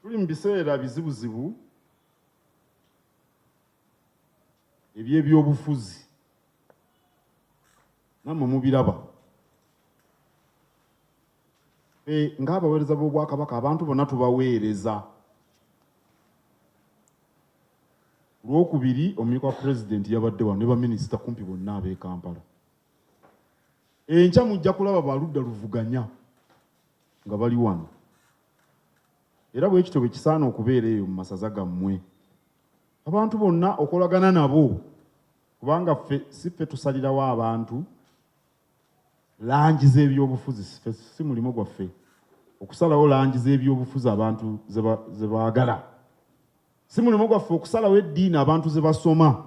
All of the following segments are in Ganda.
tuli mu biseera bizibuzibu eby'ebyobufuzi namwe mubiraba e, ng'abaweereza b'obwakabaka abantu bonna tubaweereza lwokubiri omumyuka wa pulezidenti yabadde wano ne baminisita kumpi bonna ab'e kampala enkya mujja kulaba baludda luvuganya nga bali wano era bwe kityo bwe kisaana okubeera eyo mu masaza gammwe abantu bonna okolagana nabo kubanga ffe si ffe tusalirawo abantu langi z'ebyobufuzi si mulimu gwaffe okusalawo langi z'ebyobufuzi abantu ze baagala si mulimu gwaffe okusalawo eddiini abantu ze basoma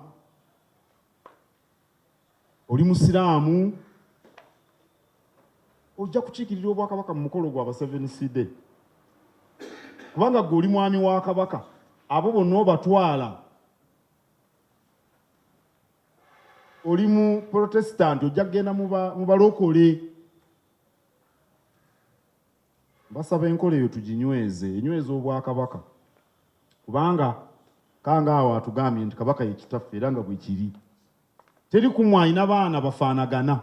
oli musiraamu ojja kukiikirira obwakabaka mu mukolo gwa baseven cd kubanga gwe oli mwami wa kabaka abo bonna obatwala oli mu protesitanti ojja kugenda mu balokole Mbasaba enkola eyo tuginyweze, enyweza Obwakabaka kubanga kanga awo atugambye nti Kabaka ye Kitaffe era nga bwe kiri. Teri ku mwe alina baana bafaanagana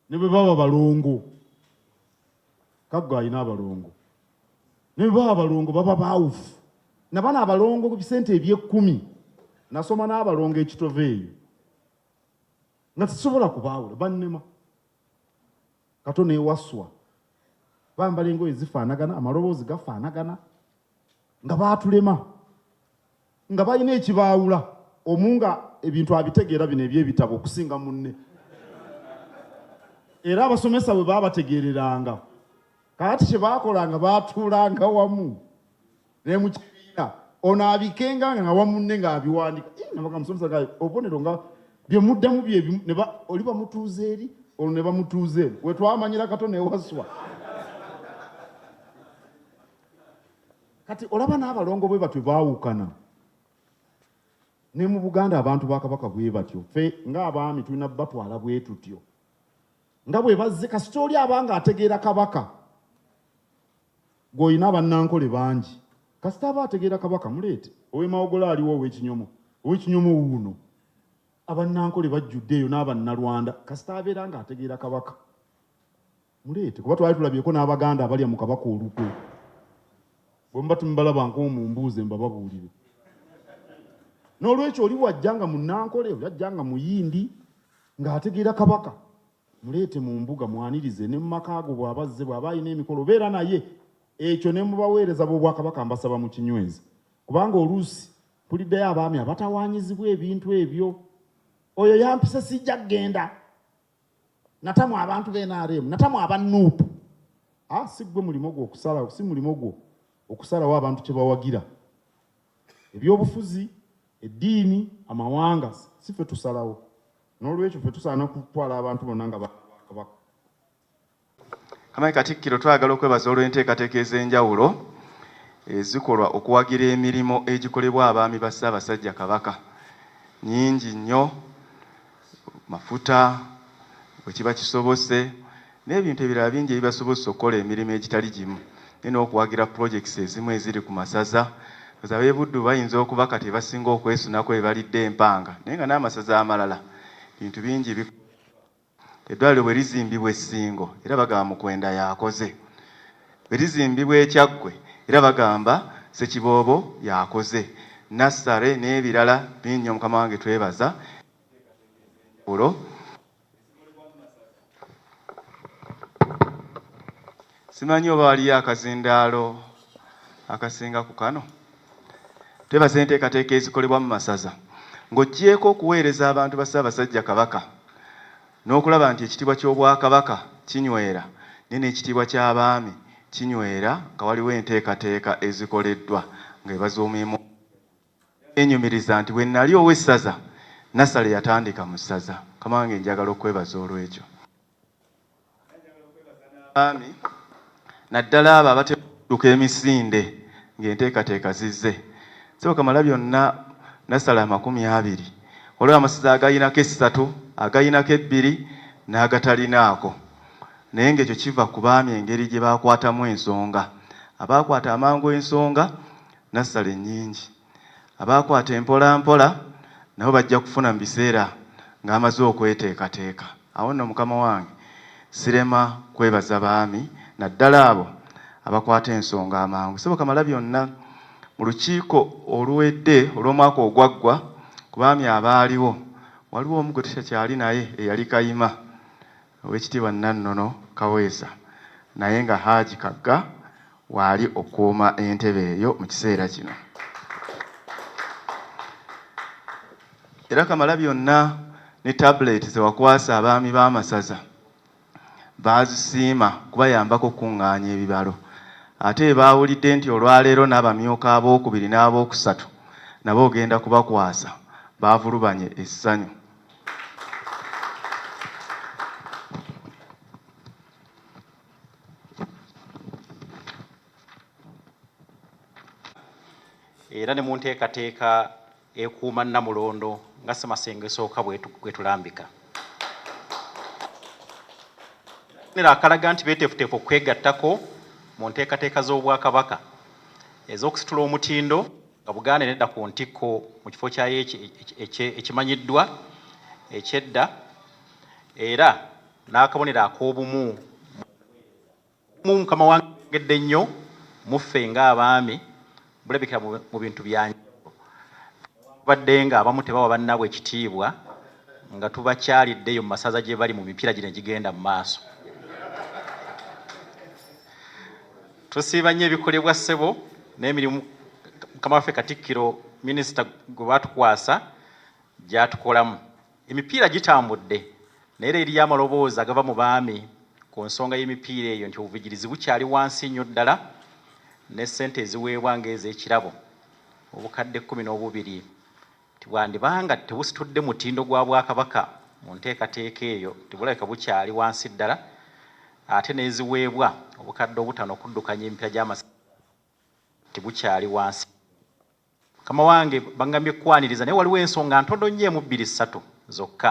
ne bwe baba balongo. Kaggo alina abalongo ne bwe baba balongo baba baawufu. Nabana abalongo ku bisente eby'ekkumi nasoma n'abalongo ekitove eyo nga sisobola kubaawula bannema. kato ne Wasswa bambala engoye zifaanagana, amaloboozi gafaanagana, nga baatulema, nga balina ekibaawula omu nga ebintu abitegeera bino eby'ebitabo okusinga munne era abasomesa bwe baabategeereranga kaati kye baakolanga baatuulanga wamu ne mu kibiina ono abikenga nga wa munne ng'abiwandika nabaga musomesa gaye obubonero nga bye muddamu bye bimu ne ba- oli bamutuuza eri olwo ne bamutuuza eri we twamanyira kato ne waswa kati olaba n'abalongo bwe batyo baawukana ne mu buganda abantu ba kabaka bwe batyo ffe ng'abaami tulina batwala bwe tutyo nga bwe bazze kasita oli abanga ategeera kabaka Gwe olina abannankole bangi. Kasita aba ategeera Kabaka muleete. Ow'e Mawogola aliwa, ow'ekinyomo? Ow'ekinyomo wuuno. Abannankole bajjudde eyo n'Abannalwanda. Kasita abeera ng'ategeera Kabaka muleete. Kuba twali tulabyeko n'Abaganda abalya mu Kabaka olukwe. Bwe muba temubalaba nko mumbuuze mbababuulire. N'olwekyo oli bw'ajja nga munnankole, oli ajja nga Muyindi ng'ategeera Kabaka. muleete mu mbuga mwanirize ne mu maka go bw'aba azze bw'aba alina emikolo beera naye ekyo ne mu baweereza b'obwakabaka mbasaba mu kinywezi kubanga oluusi mpuliddeyo abaami abatawaanyizibwa ebintu ebyo oyo yampise sijja kugenda natamu abantu be nrm natamu aba nup a ah, si gwe mulimu gwo okusalawo si mulimu gwo okusalawo abantu kye bawagira ebyobufuzi eddiini amawanga si fe tusalawo N'olwekyo ffe tusaana kutwala abantu bonna nga Kabaka. Kamayi Katikkiro twagala okwebaza olw'enteekateeka ez'enjawulo ezikolwa okuwagira emirimu egikolebwa abaami ba Ssaabasajja Kabaka nnyingi nnyo, mafuta bwe kiba kisobose, n'ebintu ebirala bingi ebibasobozesa okukola emirimu egitali gimu naye n'okuwagira pulojekisi ezimu eziri ku masaza. Ndowooza ab'e Buddu bayinza okuba kati abasinga okwesunako be balidde empanga naye nga n'amasaza amalala bintu bingi bikola eddwaliro bwe lizimbibwa e Ssingo era bagamba Mukwenda y'akoze, bwe lizimbibwa e Kyaggwe era bagamba Ssekiboobo y'akoze, Nassale n'ebirala bingi nnyo. Mukama wange twebaza enteekateeka ez'enjawulo. simanyi oba waliyo akazindaalo akasinga ku kano twebaza enteekateeka ezikolebwa mu masaza ng'oggyeeko okuweereza abantu ba ssaabasajja kabaka n'okulaba nti ekitiibwa ky'obwakabaka kinywera naye n'ekitiibwa ky'abaami kinywera nga waliwo enteekateeka ezikoleddwa nga ebaza omulimu Yenyumiriza nti bwe nnali ow'essaza, Nassale yatandika mu ssaza. Mukama wange njagala okwebaza olw'ekyo. Era njagala okwebaza n'abaami naddala abo abatera okudduka emisinde ng'enteekateeka zizze. Ssebo Kamalabyonna Nassale amakumi abiri waliwo amasaza agalinako essatu, agalinako ebbiri n'agatalinaako naye ng'ekyo kiva ku baami engeri gye bakwatamu ensonga. Abaakwata amangu ensonga, Nassale nnyingi. Abaakwata empolampola nabo bajja kufuna mu biseera ng'amaze okweteekateeka. Awo nno mukama wange sirema kwebaza baami naddala abo abakwata ensonga amangu. Ssebo Kamalabyonna, mu lukiiko oluwedde olw'omwaka ogwaggwa, ku baami abaaliwo waliwo omu gwe tusakyali naye eyali kayima Owekitiibwa Nannono Kaweesa naye nga Haji Kagga waali okuuma entebe eyo mu kiseera kino. Era Kamalabyonna ne tablet zewakwasa abaami b'amasaza baazisiima kubayambako okukungaanya ebibalo ate bwe baawulidde nti olwaleero n'abamyuka abookubiri n'abookusatu nabo ogenda kubakwasa baavulubanye essanyu. era ne mu nteekateeka ekuuma Nnamulondo nga Ssemasenga esooka bwetulambika nera akalaga nti beeteefuteefu okwegattako mu nteekateeka z'Obwakabaka ez'okusitula omutindo nga Buganda enedda ku ntikko mu kifo kyayo ekimanyiddwa ekyedda era n'akabonero ak'obumu mu mukama wange ngedde nnyo muffe ng'abaami bulabikira mu bintu byanjawulo badde nga abamu tebawa bannabwe ekitiibwa nga tubakyaliddeyo mu masaza gye bali mu mipiira gino egigenda mu maaso Tusiiba nnyo ebikolebwa ssebo n'emirimu mukama waffe Katikkiro minisita gwe baatukwasa gy'atukolamu. Emipiira gitambudde naye era eriyo amaloboozi agava mu baami ku nsonga y'emipiira eyo nti obuvigirizi bukyali wansi nnyo ddala ne ssente eziweebwa ng'ez'ekirabo obukadde kkumi n'obubiri nti bwandiba nga tebusitudde mutindo gwa Bwakabaka mu nteekateeka eyo nti bulabika bukyali wansi ddala ate n'eziweebwa obukadde obutano okuddukanya emipira gy'amasannyalaze nti bukyali wansi Mukama wange bangambye kukwaniriza naye waliwo ensonga ntono nnyo emu bbiri ssatu zokka